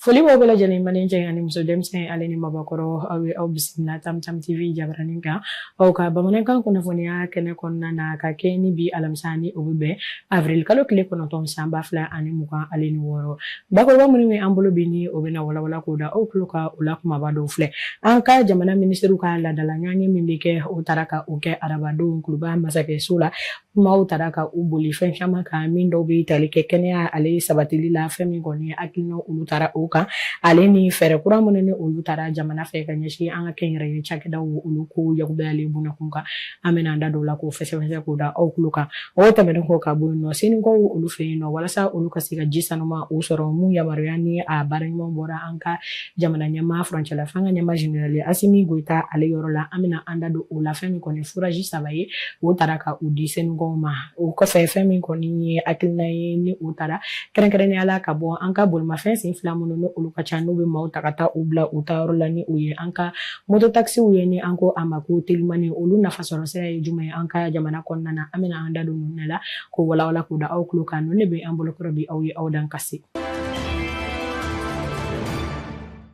Foli b'aw bɛɛ lajɛlen ma ni cɛ ani muso denmisɛn ale ni maabakɔrɔ aw ye aw bisimila tamtam tv jabaranin kan aw ka bamanankan kunnafoniya kɛnɛ kɔnɔna na ka kɛ ni bi alamisa ni o bɛ bɛn avril kalo tile kɔnɔntɔn san ba fila ani mugan ale ni wɔɔrɔ Bakuruba minnu bɛ an bolo bi ni o bɛna walawala k'o da aw tulo kan o la kumaba dɔw filɛ an ka jamana minisiriw ka laadala ɲɔgɔnye min bɛ kɛ o taara ka o kɛ arabadon kuluba masakɛso la kumaw taara ka u boli fɛn caman kan min dɔw bɛ tali kɛ kɛnɛya ale sabatili la fɛn min kɔni hakilina olu taara o kan ale ni fɛɛrɛ kura minnu ni olu taara jamana fɛ ka ɲɛsin an ka kɛnyɛrɛye cakɛdaw olu ko yakubaya ale bunakun kan an bɛna an da don o la k'o fɛsɛfɛsɛ k'o da aw tulo kan o tɛmɛnen kɔ ka bɔ yen nɔ senikaw olu fɛ yen nɔ walasa olu ka se ka ji sanuman o sɔrɔ min yamaruya ni a baara ɲuman bɔra an ka jamana ɲɛmaa furancɛla fanga ɲɛmaa jenerali asimi goyita ale yɔrɔ la an bɛna an da don o la fɛn min kɔni forazi saba ye o taara ka u di senikaw ma o kɔfɛ fɛn min kɔni ye hakilina ye ni o taara kɛrɛnkɛrɛnnenya la ka bɔ an ka bolimafɛn sen fila minnu ni olu ka ca n'u bɛ maaw ta ka taa u bila u taayɔrɔ la ni o ye an ka Mototakisiw ye ni an ko a ma ko telimani olu nafasɔrɔ sira ye jumɛn ye an ka jamana kɔnɔna na an bɛna an da don ninnu de la k'o walawala k'o da aw tulo kan ninnu de bɛ an bolokɔrɔ bi aw ye aw dan kasi.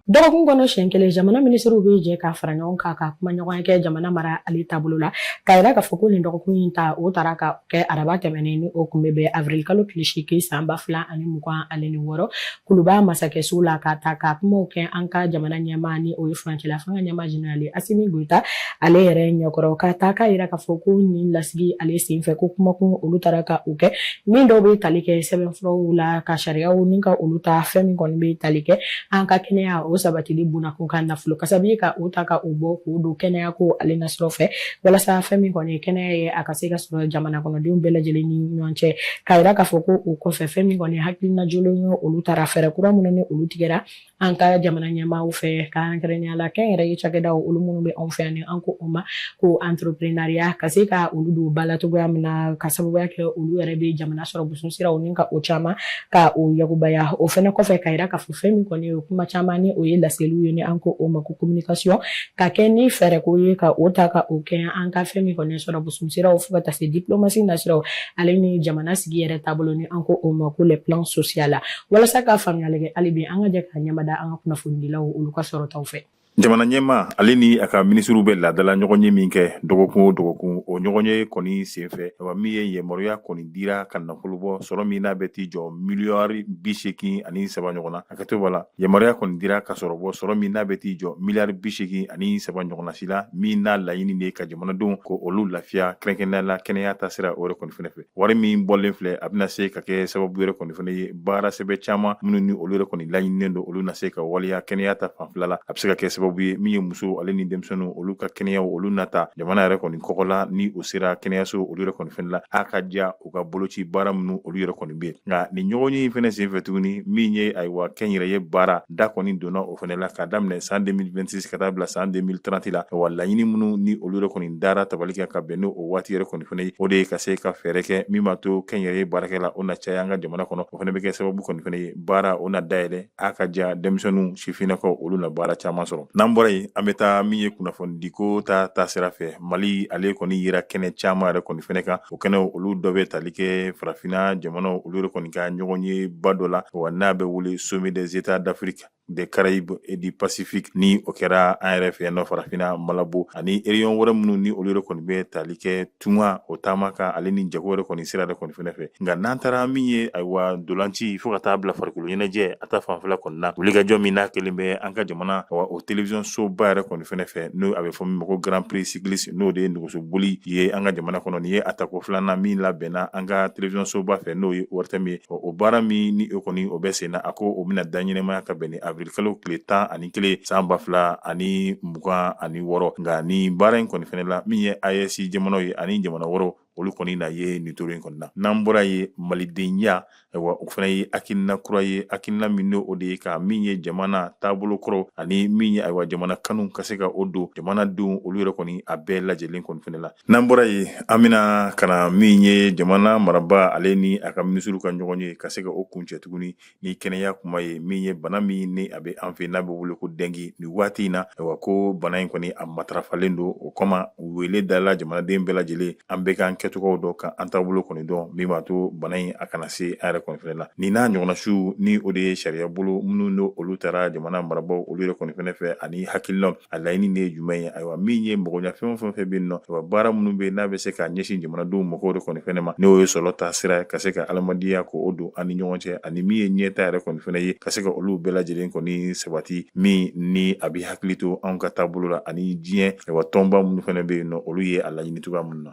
dɔgɔkun kɔnɔ siɲɛ kelen jamana minisiriw bɛ jɛ ka fara ɲɔgɔn kan ka kumaɲɔgɔnya kɛ jamana mara ale taabolo la k'a yira k'a fɔ ko nin dɔgɔkun in ta o taara ka kɛ araba tɛmɛnen ni o kun bɛ bɛn avril kalo tile seegin san ba fila ani mugan ale ni wɔɔrɔ kuluba masakɛso la ka taa ka kumaw kɛ an ka jamana ɲɛmaa ni o ye furancɛla fanga ɲɛmaa jenerali asimi goyita ale yɛrɛ ɲɛkɔrɔ ka taa k'a yira k'a fɔ ko nin lasigi ale senfɛ ko kumakun olu taara ka u kɛ min dɔw bɛ tali kɛ sɛbɛnfuraw la ka sariyaw ni ka olu ta fɛn min kɔni bɛ tali kɛ an ka kɛnɛya o sabatili bonakun ka nafolo kasabi ka u ta ka u bɔ k'u don kɛnɛya ko ale nasira fɛ walasa fɛn min kɔni ye kɛnɛya ye a ka se ka sɔrɔ jamana kɔnɔdenw bɛɛ lajɛlen ni ɲɔgɔn cɛ k'a yira k'a fɔ ko o kɔfɛ fɛn min kɔni hakilina jɔlen ye olu taara fɛɛrɛ kura minnu ni olu tigɛra an ka jamana ɲɛmaaw fɛ kɛrɛnkɛrɛnnenya la kɛnyɛrɛye cakɛdaw olu minnu bɛ anw fɛ yan ni an ko o ma ko entreprenariat ka se ka olu don ba la cogoya min na ka sababuya kɛ olu yɛrɛ bɛ jamana sɔrɔ busun siraw ni ka o caman ka o yakubaya o fɛnɛ kɔfɛ k'a yira k'a fɔ fɛn min kɔni ye kuma caman ni o ye laseliw ye ni an ko o ma ko communication ka kɛ ni fɛɛrɛ ko ye ka o ta ka o kɛ an ka fɛn min kɔni sɔrɔ busun siraw fo ka taa se diplomatie nasiraw ale ni jamana sigi yɛrɛ taabolo ni an ko o ma ko le plan social la walasa ka faamuyali kɛ hali bi an ka jɛ ka ɲɛda an ka kunnafonidilaw olu ka sɔrɔtaw fɛ jamana ɲɛmaa ale ni a ka minisiriw bɛ laadala ɲɔgɔnye min kɛ dɔgɔkun o dɔgɔkun o ɲɔgɔnye kɔni senfɛ a min ye yamaruya kɔni dira ka nafolo bɔ sɔrɔ min n'a bɛ t'i jɔ miliyari biseegin ani saba ɲɔgɔn na a ka to b'a la yamaruya kɔni dira ka sɔrɔ bɔ sɔrɔ min n'a bɛ t'i jɔ miliyari bi seegin ani saba ɲɔgɔnnasi la min n'a laɲini de ka jamanadenw ko olu lafiya kɛrɛnkɛrɛnnenya la kɛnɛya ta sira o yɛrɛ kɔni fɛnɛ fɛ wari min bɔlen filɛ a bɛna se ka kɛ sababu yɛrɛ kɔni fɛnɛ ye baara sɛbɛ caman minnu ni olu yɛrɛ kɔni laɲininen don olu na se ka waleya kɛnɛya ta fanfɛla la a bɛ se ka kɛ sababu ye min ye muso ale ni denmisɛnninw olu ka kɛnɛyaw olu nata jamana yɛrɛ kɔni kɔkɔla ni o sera kɛnɛyaso olu yɛrɛ kɔni fɛnɛ la a ka diya u ka boloci baara minnu olu yɛrɛ kɔni bɛ nka nin ɲɔgɔnye fɛnɛ senfɛ tuguni min ye ayiwa kɛnyɛrɛye baarada kɔni donna o fɛnɛ la k'a daminɛ san 2026 ka taa bila san 2030 la wa laɲini minnu ni olu yɛrɛ kɔni dara tabali kan ka bɛn ni o waati yɛrɛ kɔni fɛnɛ ye o de ye ka se ka fɛɛrɛ kɛ min b'a to kɛnyɛrɛye baarakɛla o na caya an ka jamana kɔnɔ o fɛnɛ bɛ kɛ sababu kɔni fɛnɛ ye baara o na dayɛlɛ a ka diya denmisɛnninw sifinnakaw olu na baara caman sɔrɔ n'an bɔra yen an bɛ taa min ye kunnafonidiko ta taasira fɛ mali ale kɔni yira kɛnɛ caman yɛrɛ kɔni fɛnɛ kan o kɛnɛ olu dɔ bɛ tali kɛ farafinna jamanaw olu yɛrɛ kɔni ka ɲɔgɔnyeba dɔ la wa n'a bɛ wele sommet des états d'afrique des Caraïbes et du Pacifique ni o kɛra an yɛrɛ fɛ yan nɔ farafinna Malabo ani région wɛrɛ minnu ni olu yɛrɛ kɔni bɛ tali kɛ tunga o taama kan ale ni jago yɛrɛ kɔni sira yɛrɛ kɔni fɛnɛ fɛ nka n'an taara min ye ayiwa dolanci fo ka taa bila farikolo ɲɛnajɛ a ta fanfɛla kɔni na wulikajɔ min n'a kelen bɛ an ka jamana awa o television soba yɛrɛ kɔni fɛnɛ fɛ n'o a bɛ fɔ min ma ko grand prix cycliste n'o de ye nɛgɛso boli ye an ka jamana kɔnɔ nin ye a tako filanan min labɛnna an ka television soba fɛ n'o ye ORTM ye o baara min ni o kɔni o bɛ senna a ko o bɛna da ɲɛnamaya ka bɛn ni avril kalo tile tan ani kelen san ba fila ani mugan ani wɔɔrɔ nka ni baara in kɔni fɛnɛ la min ye AES jamanaw ye ani jamana wɔɔrɔ olu kɔni na ye nin toro in kɔni na n'an bɔra yen malidenya wa o fana ye hakilina kura ye hakilina min o de ye ka min ye jamana taabolo kɔrɔ ani min ye ayiwa jamana kanu ka se ka o don jamanadenw olu yɛrɛ kɔni a bɛɛ lajɛlen kɔni fɛnɛ la n'an bɔra yen an bɛna ka na min ye jamana marabaa ale ni a ka minisiriw ka ɲɔgɔnye ka se ka o kuncɛ tuguni ni kɛnɛya kuma ye min ye bana min ni a bɛ an fɛ n'a bɛ wele ko dɛngi ni waati in na ayiwa ko bana in kɔni a matarafalen don o kama wele dala jamanaden bɛɛ lajɛlen an bɛ k'an kɛcogow dɔn ka an taabolo kɔni dɔn min b'a to bana in a kana se an yɛrɛ kɔni fɛnɛ la nin n'a ɲɔgɔnnasiw ni o de ye sariya bolo minnu don olu tara jamana marabaaw olu yɛrɛ kɔni fɛnɛ fɛ ani hakilina a laɲini de ye jumɛn ye ayiwa min ye magoɲɛfɛn fɛn o fɛn bɛ yen nɔ ayiwa baara minnu bɛ n'a bɛ se ka ɲɛsin jamanadenw magow yɛrɛ kɔni fɛnɛ ma n'o ye sɔrɔ ta sira ka se ka adamadenya ko o don an ni ɲɔgɔn cɛ ani min ye ɲɛtaa yɛrɛ kɔni fɛnɛ ye ka se ka olu bɛɛ lajɛlen kɔni sabati min ni a bɛ hakili to anw ka taabolo la ani diɲɛ ayiwa tɔnba minnu fɛnɛ bɛ yen nɔ olu ye a laɲini cogoya minnu na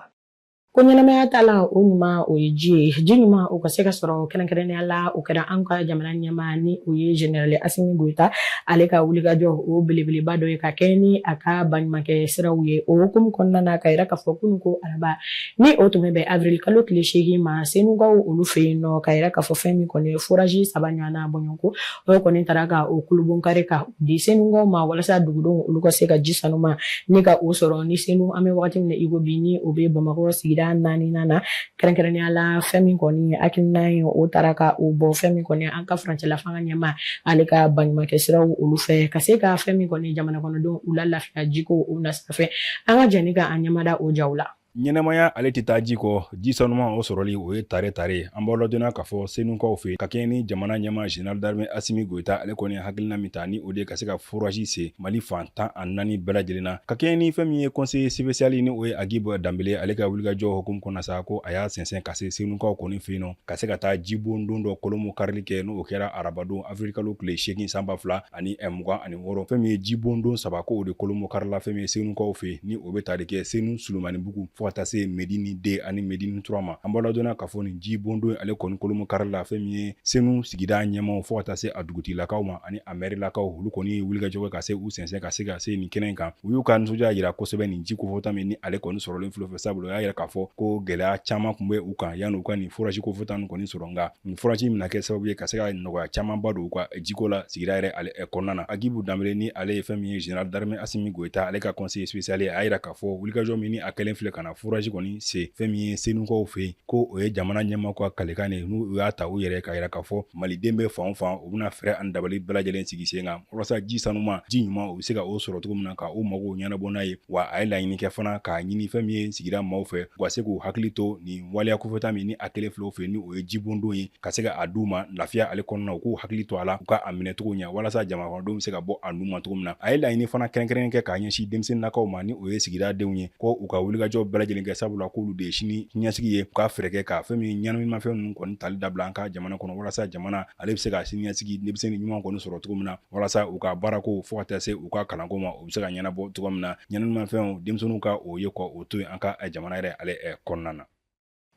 Ko ɲɛnamaya ta la o ɲuman o ye ji ye ji ɲuman o ka se ka sɔrɔ kɛrɛnkɛrɛnnenya la o kɛra an ka jamana ɲɛmaa ni o ye General Assimi Goita ale ka wulikajɔ o belebeleba dɔ ye ka kɛ ni a ka baɲumankɛ siraw ye o hukumu kɔnɔna na k'a yira k'a fɔ kunun ko araba ni o tun bɛ avril kalo tile seegin ma Senukaw olu fɛ yen nɔ k'a yira k'a fɔ fɛn min kɔni ye forage saba ɲɔgɔn bɔɲɔgɔnko dɔw kɔni taara ka o kulunbonkari ka di senukaw ma walasa dugudenw olu ka se ka ji sanuman ni ka o sɔrɔ ni senu an bɛ wagati min na iko bi ni o bɛ bamakɔ sigida naaninan na kɛrɛnkɛrɛnnenya la fɛn min kɔni hakilina ye o taara ka o bɔ fɛn min kɔni an ka furancɛla fanga ɲɛmaa ale ka baɲumankɛ siraw olu fɛ ka se ka fɛn min kɔni jamana kɔnɔdenw u lalafiya jiko o nasira fɛ an ka jɛ ni ka an ɲɛmada o jaw la ɲɛnamaya ale tɛ taa ji kɔ ji sanuman o sɔrɔli o ye tare tare an b'aw ladɔnniya k'a fɔ senukaw fɛ ka kɛɲɛ ni jamana ɲɛmaa general d'armée asimi goyita ale kɔni hakilina min ta ni o de ye ka se ka forasi se mali fan tan ani naani bɛɛ lajɛlen na ka kɛɲɛ ni fɛn min ye conseiller spécial ni o ye agibu danbele ale ka wulikajɔ hukumu kɔnɔ sa ko a y'a sɛnsɛn ka se senukaw kɔni fɛ yen nɔ ka se ka taa jibondon dɔ kulunbonkarili kɛ n'o kɛra arabadon avril kalo tile seegin san ba fila ani ɛ mugan ani wɔɔrɔ fɛn min ye jibondon saba ko o de kulunbonkarila fɛn min ye senukaw fɛ ni o bɛ tali kɛ senu sulumanibugu fo ka taa se medini deux ani medini trois ma an b'aw ladɔnniya k'a fɔ nin jibondon ale kɔni kulunbonkarila fɛn min ye senu sigida ɲɛmaaw fo ka taa se a dugutigilakaw ma ani a mɛrilakaw olu kɔni ye wulikajɔ kɛ ka se u sɛnsɛn ka se ka se nin kɛnɛ kan u y'u ka nisɔndiya yira kosɛbɛ nin ji kofɔta min ni ale kɔni sɔrɔlen filɛ u fɛ sabula o y'a yira k'a fɔ ko gɛlɛya caman kun bɛ u kan yanni u ka nin forasi kofɔta nin kɔni sɔrɔ nka nin forasi in bɛna kɛ sababu ye ka se ka nɔgɔya camanba don u ka jiko la sigida yɛrɛ ale kɔnɔna na agibu danbele ni ale ye fɛn min ye general d'armée asimi goyita ale ka conseiller spécial ye a y'a yira k'a fɔ wulikajɔ min ni a kɛlen filɛ ka na forasi kɔni se fɛn min ye senukaw fɛ yen ko o ye jamana ɲɛmaa ka kalikan de n'u y'a ta u yɛrɛ k'a yira k'a fɔ maliden bɛ fan o fan u bɛna fɛɛrɛ ani dabali bɛɛ lajɛlen sigi sen kan walasa ji sanuman ji ɲuman u bɛ se ka o sɔrɔ cogo min na ka u magow ɲɛnabɔ n'a ye wa a ye laɲini kɛ fana k'a ɲini fɛn min ye sigida maaw fɛ u ka se k'u hakili to nin waleya kofɔta min ni a kɛlen filɛ u fɛ yen ni o ye jibondon ye ka se ka a d'u ma lafiya ale kɔnɔna u k'u hakili to a la u ka a minɛcogo ɲɛ walasa jamanakɔnɔdenw bɛ se ka bɔ a nun ma cogo min na a ye laɲini fana kɛrɛnkɛrɛnnen kɛ k'a ɲɛsin denmisɛnninnakaw ma ni o ye sigida denw ye ko u ka wulikajɔ bɛɛ lajɛlen kɛ sabula k'olu de ye sini ɲɛsigi ye u ka fɛɛrɛ kɛ ka fɛn min ɲɛnaminimafɛn ninnu kɔni tali dabila an ka jamana kɔnɔ walasa jamana ale bɛ se ka sini ɲɛsigi denmisɛnnin ɲuman kɔni sɔrɔ cogo min na walasa u ka baarako fo ka taa se u ka kalanko ma u bɛ se ka ɲɛnabɔ cogo min na ɲɛnaminimafɛnw denmisɛnninw ka o ye ka o to yen an ka jamana yɛrɛ ale kɔnɔna na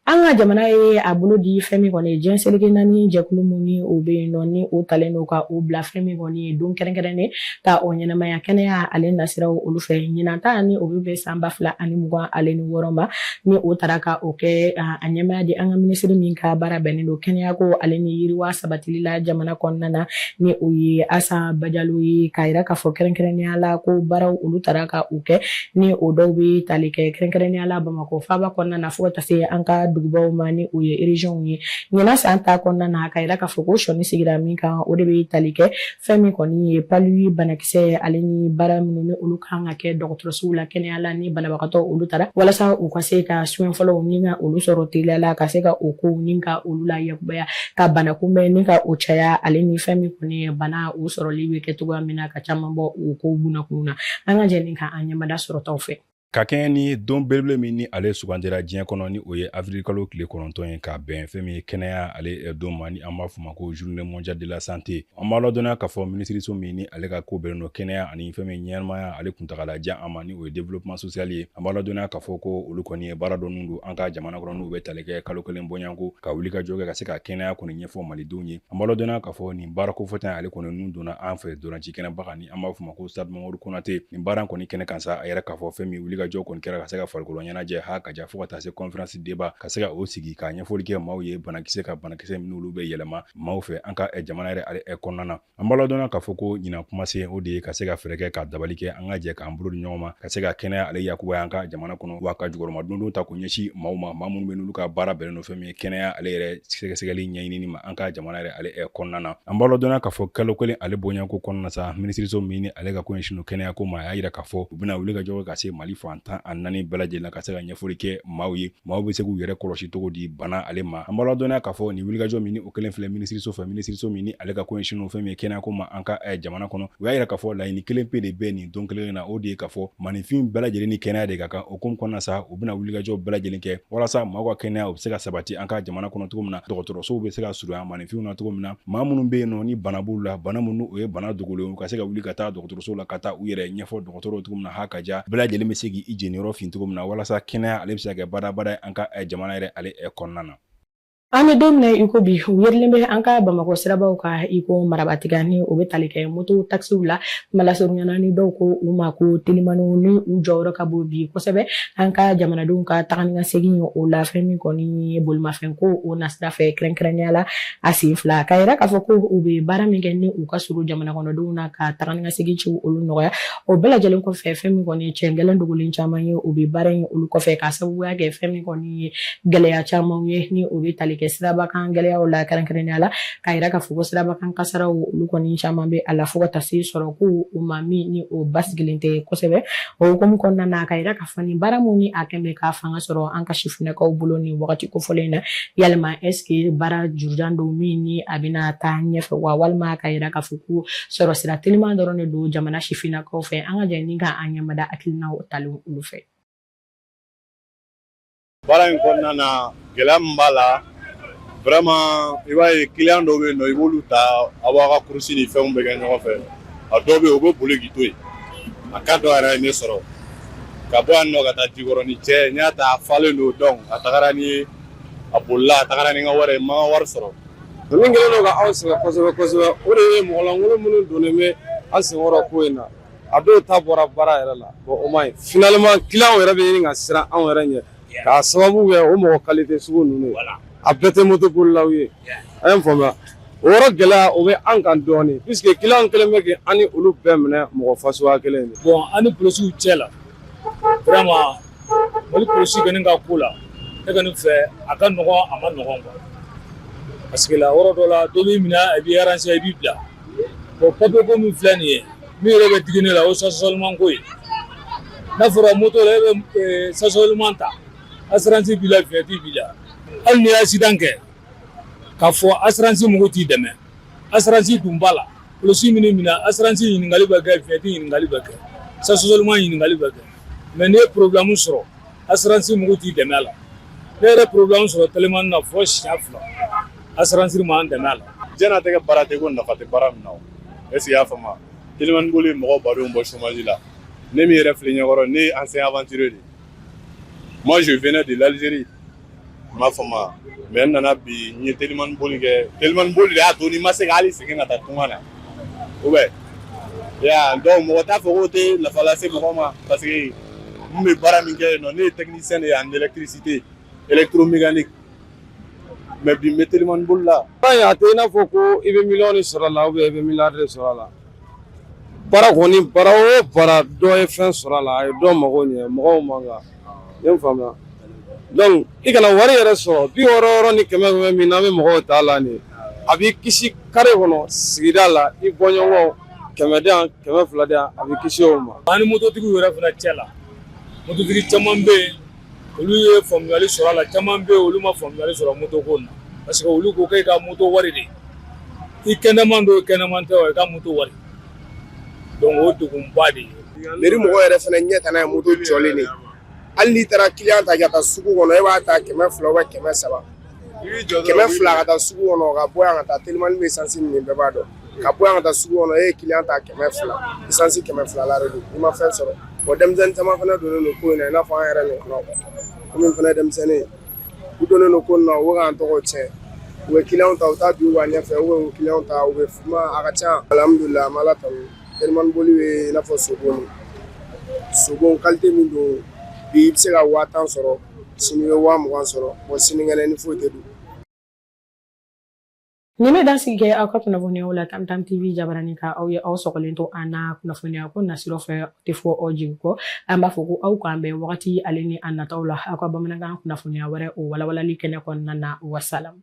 an ka jamana ye a bolo di fɛn min kɔni ye diɲɛ seleke naani jɛkulu min ni o bɛ yen nɔ ni o talen don ka o bila fɛn min kɔni ye don kɛrɛnkɛrɛnnen ka o ɲɛnamaya kɛnɛya ale nasiraw olu fɛ ɲinan ta ni o bɛ bɛn san ba fila ani mugan ale ni wɔɔrɔ ma ni o taara ka o kɛ a ɲɛmaaya di an ka minisiri min ka baara bɛnnen don kɛnɛyako ale ni yiriwa sabatili la jamana kɔnɔna na ni o ye Asa Bajalo ye k'a yira k'a fɔ kɛrɛnkɛrɛnnenya la ko baaraw olu taara ka u kɛ ni o dɔw bɛ tali kɛ kɛrɛnkɛrɛnnenya la Bamakɔ faaba kɔnɔna na fo ka taa se an ka dugubaw ma ni o ye ereziyɔnw ye ɲinan san ta kɔnɔna na k'a yira k'a fɔ ko sɔnin sigira min kan o de bɛ tali kɛ fɛn min kɔni ye palu banakisɛ ale ni baara minnu ni olu kan ka kɛ dɔgɔtɔrɔsow la kɛnɛya la ni banabagatɔ olu taara walasa u ka se ka soin fɔlɔw ni ka olu sɔrɔ teliya la ka se ka o kow ni ka olu la Baya ka bana kunbɛn ni ka o caya ale ni fɛn min kɔni ye bana o sɔrɔli bɛ kɛ cogoya min na ka caman bɔ o kow bunakun na an ka jɛ ni ka an ɲɛmada sɔrɔtaw fɛ ka kɛɲɛ ni don belebele min ni ale sugandira diɲɛ kɔnɔ ni o ye avirikalo tile kɔnɔntɔn ye ka bɛn fɛn min ye kɛnɛya ale don ma ni an b'a fɔ ma ko journée mondiale de la santé An b'a ladɔnya k'a fɔ minisiriso min ni ale ka ko bɛnnen don kɛnɛya ani fɛn min ɲɛnamaya ale kuntagalajanya ma ni o ye développement social ye an b'a ladɔnya k'a fɔ ko olu kɔni ye baara dɔ nun don an ka jamana kɔnɔ n'u bɛ tali kɛ kalo kelen bɔɲanko ka wulikajɔ kɛ ka se ka kɛnɛya kɔni ɲɛfɔ malidenw ye an b'a ladɔnya k'a fɔ nin baara kofɔta ale kɔni nun donna an fɛ ntolaci kɛnɛba kan ni an b'a fɔ ma ko stade mamadu konate nin baara kɔni kɛnɛ kan sa a yɛrɛ k'a fɔ fɛn min wulikajɔ kɔni kɛra ka se ka farikolo ɲɛnajɛ ha ka ja fo ka taa se conférence débat ka se ka o sigi ka ɲɛfɔli kɛ maaw ye banakisɛ ka banakisɛ min olu bɛ yɛlɛma maaw fɛ an ka eh, jamana yɛrɛ ale eh, kɔnɔna na an b'a ladɔnya k'a fɔ ko ɲinan kumasen o de ye ka se ka fɛɛrɛ kɛ ka dabali kɛ an ka jɛ k'an bolo di ɲɔgɔn ma ka se ka kɛnɛya ale yakubaya an ka jamana kɔnɔ wa ka jukɔrɔmadondon ta k'o ɲɛsin maaw ma maa minnu bɛ n'olu ka baara bɛnnen don fɛn min ye kɛnɛya ale yɛrɛ sɛgɛsɛgɛli ɲɛɲinini ma an ka jamana yɛrɛ ale kɔnɔna na an b'a ladɔnya k'a fɔ kalo kelen ale bonyanko kɔnɔna sa minisiriso min ni ale ka ko ɲɛsinnen don kɛnɛya ko ma a y'a yira k'a fɔ u bɛna wulikajɔ kɛ ka se mali fan tan ni naani bɛɛ lajɛlen ka se ka ɲɛfɔli kɛ maaw ye maaw bɛ se k'u yɛrɛ kɔlɔsi cogo di bana ale ma an b'a ladɔnniya k'a fɔ nin wulikajɔ min ni o kɛlen filɛ minisiriso fɛ minisiriso min ni ale ka ko ɲɛsinnen fɛn min ye kɛnɛyako ma an ka eh, jamana kɔnɔ u y'a yira k'a fɔ laɲini kelen pe de bɛ nin don kelen na o de ye k'a fɔ maninfin bɛɛ lajɛlen ni kɛnɛya de ka kan o hukumu kɔnɔna sa u bɛna wulikajɔ bɛɛ lajɛlen kɛ walasa maaw ka kɛnɛya u bɛ se ka sabati an ka jamana kɔnɔ cogo min na dɔgɔtɔrɔsow bɛ se ka surunya maninfinw na cogo min na maa minnu bɛ yen nɔ ni bana b'u la bana minnu ni o ye bana dogolen u ka se ka wuli ka taa dɔgɔtɔrɔsow la ka taa u yɛrɛ ɲɛfɔ dɔgɔtɔrɔw cogo min na ha ka ja bɛɛ lajɛlen bɛ se k'i jeniyɔrɔ fin cogo min na walasa kɛnɛya ale bɛ se ka kɛ badabada ye an ka eh, jamana yɛrɛ ale eh, kɔnɔna na an bɛ don min na iko bi u yerilen bɛ an ka bamakɔ sirabaw kan iko marabatiga ni o bɛ tali kɛ moto takisiw la malasurunyana ni dɔw ko u ma ko telimaniw ni u jɔyɔrɔ ka bon bi kosɛbɛ an ka jamanadenw ka taga ni ka segin o la fɛn min kɔni ye bolimafɛn ko o nasira fɛ kɛrɛnkɛrɛnnenya la a sen fila k'a yira k'a fɔ ko u bɛ baara min kɛ ni u ka surun jamana kɔnɔdenw na ka taga ni ka segin ci olu nɔgɔya o bɛɛ lajɛlen kɔfɛ fɛn min kɔni cɛn gɛlɛn dogolen caman ye u bɛ baara in olu kɔfɛ k'a sababuya kɛ fɛn min kɔni ye gɛlɛya camanw ye ni o bɛ tali kɛ sirabakan gɛlɛyaw la kɛrɛnkɛrɛnnenya la k'a yira k'a fɔ ko sirabakan kasaraw olu kɔni caman bɛ a la fo ka taa se sɔrɔko o ma min ni o basigilen tɛ kosɛbɛ o hukumu kɔnɔna na k'a yira k'a fɔ nin baara min ni a kɔni bɛ ka fanga sɔrɔ an ka sifinnakaw bolo nin wagati kofɔlen in na yalima est-ce que baara jurujan don min ni a bɛna taa ɲɛfɛ wa walima k'a yira k'a fɔ ko sɔrɔ sira teliman dɔrɔn de don jamana sifinnakaw fɛ an ka jɛ ni ka an ɲɛmada hakilinaw talen olu fɛ baara in kɔnɔna na gɛlɛya min b'a la vraiment i b'a ye client dɔw bɛ yen nɔ i b'olu ta aw b'aw ka kurusi ni fɛnw bɛ kɛ ɲɔgɔn fɛ a dɔw bɛ yen u bɛ boli k'i to yen a ka dɔ yɛrɛ ye ne sɔrɔ ka bɔ yan nɔ ka taa jikɔrɔni cɛ n y'a ta a falen don donc a tagara ni a bolila a tagara ni n ka wari ye n ma n ka wari sɔrɔ min kɛlen don ka anw sɛgɛn kosɛbɛ kosɛbɛ o de ye mɔgɔlankolon minnu donnen bɛ an senkɔrɔ ko in na a dɔw ta bɔra baara yɛrɛ la bon o ma ɲi finalement client yɛrɛ bɛ ɲini ka siran anw yɛrɛ ɲɛ k'a sababu kɛ o mɔgɔ qualité sugu ninnu ye a bɛɛ tɛ moto bolilaw ye a ye n faamuya o yɔrɔ gɛlɛya o bɛ an kan dɔɔnin puisque client kɛlen bɛ ka an ni olu bɛɛ minɛ mɔgɔ fasuguya kelen de bon an ni polisiw cɛ la vraiment mali polisi kɔni ka ko la ne kɔni fɛ a ka nɔgɔn a man nɔgɔn quoi parce que la yɔrɔ dɔ la dɔ b'i minɛ a b'i arranger i b'i bila Bon papier ko min filɛ nin ye min yɛrɛ bɛ digi ne la o ye stationnement ko ye n'a fɔra moto la e bɛ ɛɛ stationnement ta assurance b'i la vignette b'i la hali n'i ye accident kɛ k'a fɔ assurance mɔgɔw t'i dɛmɛ assurance dun b'a la polisi man'i minɛ assurance ɲininkali bɛ kɛ vignette ɲininkali bɛ kɛ stationnement ɲininkali bɛ kɛ mais n'i ye problème sɔrɔ assurance mɔgɔw t'i dɛmɛ a la ne yɛrɛ problème sɔrɔ telimani na fɔ siɲɛ fila assurance m'an dɛmɛ a la diɲɛnatigɛ baara tɛ ko nafa tɛ baara min na o est ce que i y'a faamu telimani boli ye mɔgɔ badenw bɔ chômage la ne min yɛrɛ filɛ ɲɛkɔrɔ ne ye ancien aventurier de ye moi je venais de l'Algérie i m'a faamu mais n nana bi n ye telimani boli kɛ telimani boli de y'a to ne ma se ka hali segin ka taa tunga na ou bien donc mɔgɔ t'a fɔ k'o tɛ nafa lase mɔgɔ ma parce que n bɛ baara min kɛ yen nɔ ne ye technicien de ye en électricité électromécanique mais bi n bɛ telimani boli la a tɛ i n'a fɔ ko i bɛ miliyɔn de sɔrɔ a la ou bien i bɛ miliyari de sɔrɔ a la baara kɔni baara o baara dɔ ye fɛn sɔrɔ a la a ye dɔ mago ɲɛ mɔgɔw man kan ne faamuya donc i kana wari yɛrɛ sɔrɔ bi wɔɔrɔ wɔɔrɔ ni kɛmɛ kɛmɛ min n'an bɛ mɔgɔw ta la nin a b'i kisi kare kɔnɔ sigida la i bɔɲɔgɔn kɛmɛ di yan kɛmɛ fila di yan a b'i kisi o ma an ni mototigiw yɛrɛ fana cɛ la mototigi caman bɛ yen olu ye faamuyali sɔrɔ a la caman bɛ yen olu ma faamuyali sɔrɔ moto ko na parce que olu ko k'e ka moto wari di i kɛnɛman don kɛnɛman tɛ wa i ka moto wari o degunba de ye mairie mɔgɔ yɛrɛ fana ɲɛ tana ye moto jɔlen de hali n'i taara client ta ka taa sugu kɔnɔ e b'a ta kɛmɛ fila ou kɛmɛ saba kɛmɛ fila ka taa sugu kɔnɔ ka bɔ yan ka taa telimani bɛ essence min bɛɛ b'a dɔn ka bɔ yan ka taa sugu kɔnɔ e ye client ta kɛmɛ fila essence kɛmɛ fila la don i ma fɛn sɔrɔ wa denmisɛnnin caman fana donnen don ko in na i n'a fɔ an yɛrɛ ɲɔgɔnnaw kɔmi fana denmisɛnnin u donnen don ko in na u k'an tɔgɔ cɛn u bɛ kiliyanw ta u taa bi wa ɲɛfɛ u bɛ kiliyanw ta u bɛ kuma a ka ca alamdulilayi an bɛ ala tanu telimani boli bɛ i n'a fɔ sogo sogo kalite min don bi i bɛ se ka waa tan sɔrɔ sini i bɛ waa mugan sɔrɔ bon sinikɛnɛ ni foyi tɛ don Nin bɛ dansigi kɛ aw ka kunnafoniyaw la Tam Tam TV jabaranin kan aw ye aw sɔgɔlen to an na kunnafoniya ko nasiraw fɛ o tɛ fɔ aw jigi kɔ an b'a fɔ ko aw k'an bɛn wagati ale ni a nataw la aw ka bamanankan kunnafoniya wɛrɛw walawalali kɛnɛ kɔnɔna na wasalamu